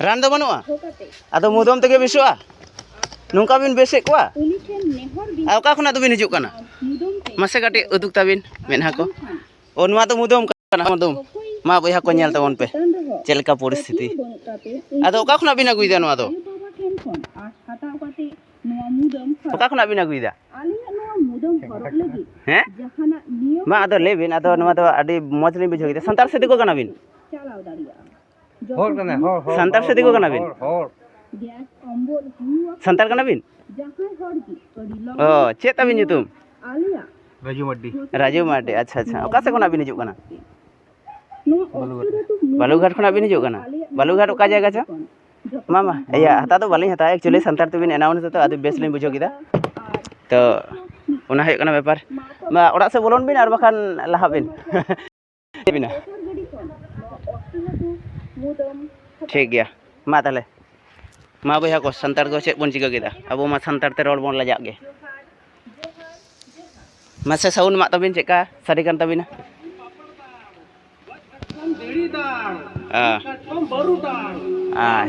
ᱨᱟᱱ ᱫᱚ ᱵᱟᱹᱱᱩᱜᱼᱟ ᱟᱫᱚ ᱢᱩᱫᱟᱹᱢ ᱛᱮᱜᱮ ᱵᱮᱥᱚᱜᱼᱟ ᱱᱚᱝᱠᱟ ᱵᱤᱱ ᱵᱮᱥᱮᱫ ᱠᱚᱣᱟ ᱟᱨ ᱚᱠᱟ ᱠᱷᱚᱱᱟᱜ ᱫᱚᱵᱤᱱ ᱦᱤᱡᱩᱜ ᱠᱟᱱᱟ ᱢᱟᱥᱮ ᱠᱟᱹᱴᱤᱡ ᱩᱫᱩᱜᱽ ᱛᱟᱹᱵᱤᱱ ᱢᱮᱫᱦᱟ ᱠᱚ ᱚ ᱱᱚᱣᱟ ᱫᱚ ᱢᱩᱫᱟᱹᱢ ᱠᱟᱱᱟ ᱢᱩᱫᱟᱹᱢ ᱢᱟ ᱵᱚᱭᱦᱟ ᱠᱚ ᱧᱮᱞ ᱛᱟᱵᱚᱱ ᱯᱮ ᱪᱮᱫ ᱞᱮᱠᱟ ᱯᱚᱨᱤᱥᱛᱷᱤᱛᱤ ᱟᱫᱚ ᱚᱠᱟ ᱠᱷᱚᱱᱟᱜ ᱵᱤᱱ ᱟᱹᱜᱩᱭᱮᱫᱟ ᱱᱚᱣᱟ ᱫᱚ ᱚᱠᱟ ᱠᱷᱚᱱᱟᱜ ᱵᱤᱱ ᱟᱹᱜᱩᱭᱮᱫᱟ ᱦᱮᱸ ᱢᱟ ᱟᱫᱚ ᱞᱟᱹᱭ ᱵᱤᱱ ᱟᱫᱚ ᱱᱚᱣᱟ ᱫᱚ ᱟᱹᱰᱤ ᱢᱚᱡᱽ ᱞᱤᱧ ᱵᱩᱡᱷᱟᱹᱣ ᱠᱮᱫᱟ ᱥᱟᱱᱛᱟᱲ ᱥᱮ ᱫᱤᱠᱩ ᱠᱟᱱᱟ ᱵᱤᱱ ᱦᱚᱲ ᱠᱟᱱᱟ ᱦᱚᱲ ᱦᱚᱲ ᱥᱟᱱᱛᱟᱲ ᱥᱮ ᱫᱤᱠᱩ ᱠᱟᱱᱟ ᱵᱤᱱ ᱦᱚᱲ ᱥᱟᱱᱛᱟᱲ ᱠᱟᱱᱟ ᱵᱤᱱ ᱚ ᱪᱮᱫ ᱛᱟᱵᱤᱱ ᱧᱩᱛᱩᱢ ᱨᱟᱡᱩ ᱢᱟᱨᱰᱤ ᱨᱟᱡᱩ ᱢᱟᱨᱰᱤ ᱟᱪᱪᱷᱟ ᱟᱪᱪᱷᱟ ᱚᱠᱟ ᱥᱮᱫ ᱠᱷᱚᱱᱟᱜ ᱵᱤᱱ ᱦᱤᱡᱩᱜ ᱠᱟᱱᱟ ᱵᱟᱞᱩᱜᱷᱟᱴ ᱠᱷᱚᱱᱟᱜ ᱵᱤᱱ ᱦᱤᱡᱩᱜ ᱠᱟᱱᱟ ᱵᱟᱞᱩᱜᱷᱟᱴ ᱚᱠᱟ ᱡᱟᱭᱜᱟ ᱪᱚ ᱢᱟ ᱢᱟ ᱤᱭᱟᱹ ᱦᱟᱛᱟᱣ ᱫᱚ ᱵᱟᱹᱞᱤᱧ ᱦᱟᱛᱟᱣᱟ ᱮᱠᱪᱩᱭᱮᱞᱤ ᱥᱟᱱᱛᱟᱲ ᱛᱮᱵᱤᱱ ᱮᱱᱟᱣᱩᱱᱥ ᱫᱟᱛᱚ ᱟᱫᱚ ᱵᱮᱥ ᱞᱤᱧ ᱵᱩᱡᱷᱟᱹᱣ ᱠᱮᱫᱟ ᱛᱚ ᱚᱱᱟ ᱦᱩᱭᱩᱜ ᱠᱟᱱᱟ ᱵᱮᱯᱟᱨ ᱢᱟ ᱚᱲᱟᱜ ᱥᱮᱫ ᱵᱚᱞᱚᱱ ᱵᱤᱱ ᱟᱨ ᱵᱟᱠᱷᱟᱱ ᱞᱟᱦᱟᱜ ᱵᱤᱱ ᱵᱤᱱᱟ ᱴᱷᱤᱠ ᱜᱮᱭᱟ ᱢᱟ ᱛᱟᱦᱚᱞᱮ ᱢᱟ ᱵᱚᱭᱦᱟ ᱠᱚ ᱥᱟᱱᱛᱟᱲ ᱠᱚ ᱪᱮᱫ ᱵᱚᱱ ᱪᱤᱠᱟᱹ ᱠᱮᱫᱟ ᱟᱵᱚ ᱢᱟ ᱥᱟᱱᱛᱟᱲ ᱛᱮ ᱨᱚᱲ ᱵᱚᱱ ᱞᱟᱡᱟᱜ ᱜᱮ ᱢᱟᱥᱮ ᱥᱟᱣᱩᱱᱰ ᱢᱟᱜ ᱛᱟᱹᱵᱤᱱ ᱪᱮᱫᱠᱟ ᱥᱟᱹᱨᱤ ᱠᱟᱱ ᱛᱟᱹᱵᱤᱱᱟ ᱦᱮᱸ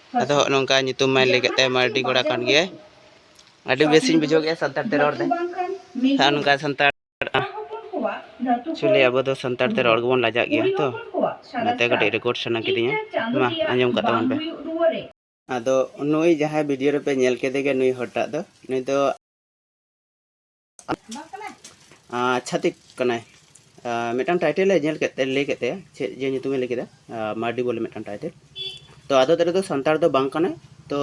ᱟᱫᱚ ᱦᱚᱸᱜ ᱱᱚᱝᱠᱟ ᱧᱩᱛᱩᱢ ᱢᱟᱭ ᱞᱟᱹᱭ ᱠᱮᱫ ᱛᱟᱭ ᱢᱟᱨᱰᱤ ᱠᱚᱲᱟ ᱠᱟᱱ ᱜᱮᱭᱟᱭ ᱟᱹᱰᱤ ᱵᱮᱥᱤᱧ ᱵᱩᱡᱷᱟᱹᱣ ᱠᱮᱫᱼᱟ ᱥᱟᱱᱛᱟᱲ ᱛᱮ ᱨᱚᱲ ᱛᱮ ᱟᱨ ᱱᱚᱝᱠᱟ ᱥᱟᱱᱛᱟᱲ ᱪᱩᱞᱤ ᱟᱵᱚ ᱫᱚ ᱥᱟᱱᱛᱟᱲ ᱛᱮ ᱨᱚᱲ ᱜᱮᱵᱚᱱ ᱞᱟᱡᱟᱜ ᱜᱮᱭᱟ ᱛᱚ ᱚᱱᱟᱛᱮ ᱠᱟᱹᱴᱤᱡ ᱨᱮᱠᱚᱨᱰ ᱥᱟᱱᱟ ᱠᱤᱫᱤᱧᱟ ᱢᱟ ᱟᱸᱡᱚᱢ ᱠᱟᱜ ᱛᱟᱵᱚᱱ ᱯᱮ ᱟᱫᱚ ᱱᱩᱭ ᱡᱟᱦᱟᱸᱭ ᱵᱷᱤᱰᱤᱭᱳ ᱨᱮᱯᱮ ᱧᱮᱞ ᱠᱮᱫᱮ ᱜᱮ ᱱᱩᱭ ᱦᱚᱲᱴᱟᱜ ᱫᱚ ᱱᱩᱭ ᱫᱚ ᱪᱷᱟᱛᱤᱠ ᱠᱟᱱᱟᱭ ᱢᱤᱫᱴᱟᱝ ᱴᱟᱭᱴᱮᱞ ᱮ ᱧᱮᱞ ᱠᱮᱫ ᱛᱮ ᱞᱟᱹᱭ ᱠᱮᱫ ᱛᱟᱭᱟ ᱪᱮᱫ ᱡᱮ ᱧᱩᱛᱩᱢᱮ ᱞᱟᱹᱭ ᱠᱮᱫᱟ ᱢᱟᱨᱰᱤ ᱵᱚᱞᱮ ᱢᱤᱫᱴᱟᱝ ᱴᱟᱭᱴᱮᱞ ᱛᱚ ᱟᱫᱚ ᱛᱮᱨᱮ ᱫᱚ ᱥᱟᱱᱛᱟᱲ ᱫᱚ ᱵᱟᱝ ᱠᱟᱱᱟᱭ ᱛᱚ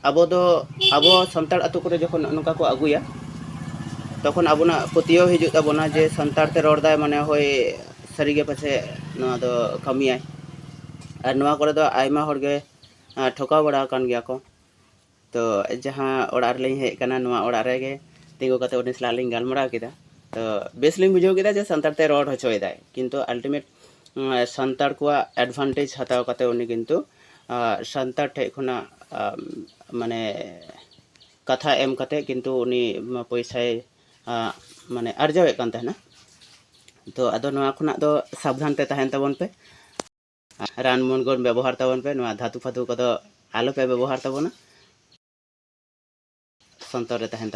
ᱟᱵᱚ ᱫᱚ ᱟᱵᱚ ᱥᱟᱱᱛᱟᱲ ᱟᱛᱳ ᱠᱚᱨᱮ ᱡᱚᱠᱷᱚᱱ ᱱᱚᱝᱠᱟ ᱠᱚ ᱟᱹᱜᱩᱭᱟ ᱛᱚᱠᱷᱚᱱ ᱟᱵᱚᱱᱟᱜ ᱯᱟᱹᱛᱭᱟᱹᱣ ᱦᱤᱡᱩᱜ ᱛᱟᱵᱚᱱᱟ ᱡᱮ ᱥᱟᱱᱛᱟᱲ ᱛᱮ ᱨᱚᱲ ᱫᱟᱭ ᱢᱟᱱᱮ ᱦᱳᱭ ᱥᱟᱹᱨᱤᱜᱮ ᱯᱟᱪᱮ ᱱᱚᱣᱟ ᱫᱚ ᱠᱟᱹᱢᱤᱭᱟᱭ ᱟᱨ ᱱᱚᱣᱟ ᱠᱚᱨᱮ ᱫᱚ ᱟᱭᱢᱟ ᱦᱚᱲᱜᱮ ᱴᱷᱚᱠᱟᱣ ᱵᱟᱲᱟ ᱟᱠᱟᱱ ᱜᱮᱭᱟ ᱠᱚ ᱛᱚ ᱡᱟᱦᱟᱸ ᱚᱲᱟᱜ ᱨᱮᱞᱤᱧ ᱦᱮᱡ ᱟᱠᱟᱱᱟ ᱱᱚᱣᱟ ᱚᱲᱟᱜ ᱨᱮᱜᱮ ᱛᱤᱸᱜᱩ ᱠᱟᱛᱮ ᱩᱱᱤ ᱥᱟᱞᱟᱜ ᱞᱤᱧ ᱜᱟᱞᱢᱟᱨᱟᱣ ᱠᱮᱫᱟ ᱛᱚ ᱵᱮᱥ ᱞᱤᱧ ᱵᱩᱡᱷᱟᱹᱣ ᱠᱮᱫᱟ ᱡᱮ ᱥᱟᱱᱛᱟᱲ ᱛᱮ ᱨᱚᱲ ᱦᱚᱪᱚᱭᱮᱫᱟᱭ ᱠᱤᱱᱛᱩ ᱟᱞᱴᱤᱢᱮᱴ ᱥᱟᱱᱛᱟᱲ ᱠᱚᱣᱟᱜ ᱮᱰᱵᱷᱟᱱᱴᱮᱡᱽ ᱦᱟᱛᱟᱣ ᱠᱟᱛᱮ ᱩᱱᱤ ᱠᱤᱱᱛᱩ ᱥᱟᱱᱛᱟᱲ ᱴᱷᱮᱡ ᱠᱷᱚᱱᱟᱜ ᱢᱟᱱᱮ ᱠᱟᱛᱷᱟ ᱮᱢ ᱠᱟᱛᱮ ᱠᱤᱱᱛᱩ ᱩᱱᱤ ᱯᱚᱭᱥᱟᱭ ᱢᱟᱱᱮ ᱟᱨᱡᱟᱣᱮᱫ ᱠᱟᱱ ᱛᱟᱦᱮᱱᱟ ᱛᱚ ᱟᱫᱚ ᱱᱚᱣᱟ ᱠᱷᱚᱱᱟᱜ ᱫᱚ ᱥᱟᱵᱫᱷᱟᱱ ᱛᱮ ᱛᱟᱦᱮᱱ ᱛᱟᱵᱚᱱ ᱯᱮ ᱨᱟᱱ ᱢᱩᱨᱜᱟᱹᱱ ᱵᱮᱵᱚᱦᱟᱨ ᱛᱟᱵᱚᱱ ᱯᱮ ᱱᱚᱣᱟ ᱫᱷᱟᱹᱛᱩ ᱯᱷᱟᱹᱛᱩ ᱠᱚᱫᱚ ᱟᱞᱚᱯᱮ ᱵᱮᱵᱚᱦᱟᱨ ᱛᱟᱵᱚᱱᱟ ᱥᱚᱱᱛᱚᱨ ᱨᱮ ᱛᱟᱦᱮᱱ ᱛᱟᱵᱚᱱ